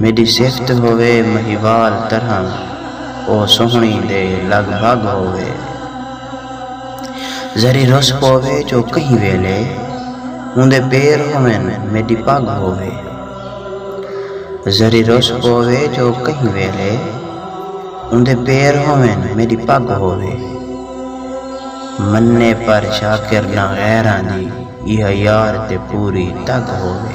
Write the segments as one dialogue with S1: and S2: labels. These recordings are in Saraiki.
S1: میݙی صفت ہووے مہیوال طرحاں او سوہݨی دے لڳ بھڳ ہووے ذری رس پووے جو کہیں ویلے اوندے پیر ہوون میݙی پڳ ہووے ذری رس پووے جو کہیں ویلے اوندے پیر ہوون میݙی پڳ ہووے منے پر شاکر نہ غیراں دی ایہا یار تے پوری تڳ ہووے۔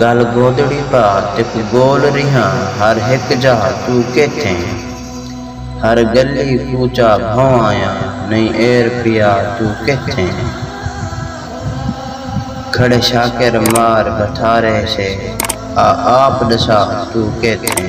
S1: ڳل گودڑی پار تے کوں ڳول ریہاں ہر ہک جاہ توں کیتھیں ہر ڳلی کوچہ بھونواں نئیں ایر پیا توں کیتھیں کھڑے شاکر مار بھتھارے سے آ آپ ݙسا توں کیتھیں۔